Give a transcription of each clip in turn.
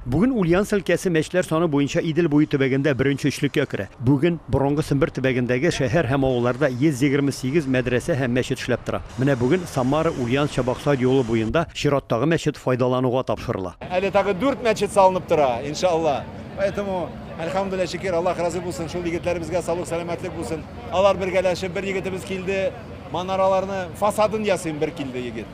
Бүген Ульяновск өлкәсе мәчетләр саны буенча Идел буе төбәгендә беренче өчлеккә керә. Бүген борынгы Сембер төбәгендәге шәһәр һәм авылларда 128 мәдрәсә һәм мәчет эшләп тора. Менә бүген Самара, Ульяновск, Чабаксар юлы буенда чираттагы мәчет файдалануга тапшырыла. Әле тагы дүрт мәчет салынып тора, иншалла. Поэтому, әлхәмдүлилләһ, шөкер, Аллаһ разый булсын, шул егетләребезгә саулык-сәламәтлек булсын. Алар бергәләшеп, бер егетебез килде, манараларны фасадын ясыйм, бер килде егет.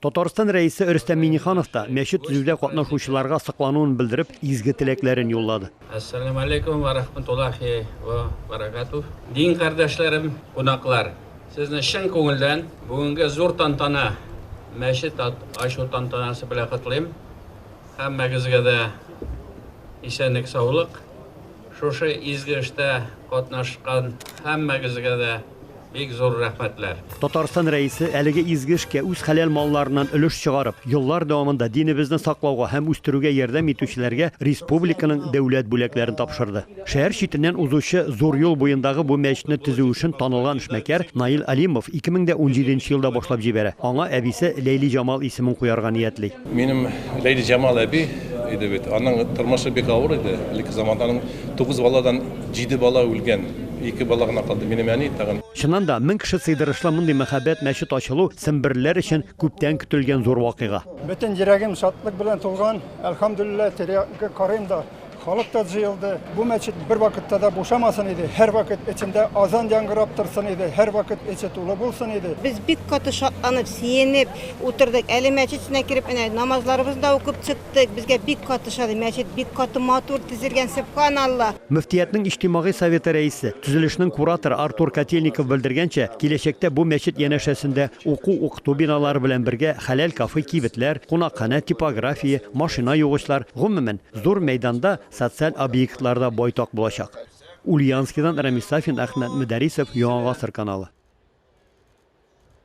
Татарстан Рәисе Рөстәм Миңнеханов та, мәчет төзүдә катнашучыларга соклануын белдереп, изге теләкләрен юллады. Әссәләмәләйкүм вә рахмәтуллаһи вә бәрәкәтүһ! Дин кардәшләрем, кунаклар! Сезне чын күңелдән бүгенге зур тантана, мәчет ачу тантанасы белән котлыйм. Һәммәгезгә дә исәнлек-саулык! Шушы изге эштә катнашкан һәммәгезгә дә бик зур рәхмәтләр. Татарстан Рәисе әлеге изге эшкә үз хәләл малларыннан өлеш чыгарып, еллар дәвамында динебезне саклауга һәм үстерүгә ярдәм итүчеләргә республиканың дәүләт бүләкләрен тапшырды. Шәһәр читеннән узучы зур юл буендагы бу мәчетне төзү эшен танылган эшмәкәр Наил Алимов 2017 елда башлап җибәрә, аңа әбисе Ләйлиҗамал исемен куярга ниятли. Минем Ләйли Җамал әби иде бит. Аның тормышы бик авыр иде. Элекке заманда аның тугыз баладан җиде бала үлгән. Ике бала гына калды, минем әни тагын. Чыннан да, мең кеше сыйдырышлы мондый мәһабәт мәчет ачылу семберлеләр өчен күптән көтелгән зур вакыйга. Бөтен йөрәгем шатлык белән тулган, әлхәмдүлилләһ, тирә-ягыма карыйм да, Халык та җыелды. Бу мәчет бервакытта да бушамасын иде. Һәрвакыт эчендә азан яңгырап торсын иде, һәрвакыт эче тулы булсын иде. Без бик каты шатланып, сөенеп утырдык. Әле мәчет эченә кереп, әнә намазларыбызны да укып чыктык. Безгә бик каты ошады. Мәчет бик каты матур төзелгән, сөбханалла! Мөфтиятнең иҗтимагый советы рәисе, төзелешнең кураторы Артур Котельников белдергәнчә, киләчәктә бу мәчет янәшәсендә уку-укыту биналары белән бергә хәләл кафе, кибетләр, кунакханә, типография, машина югычлар, гомумән, Зур мәйданда социаль объектлар да байтак булачак. Ульяновскидан Рәмис Сафин, Әхмәт Мөдәрисов, Яңа гасыр каналы.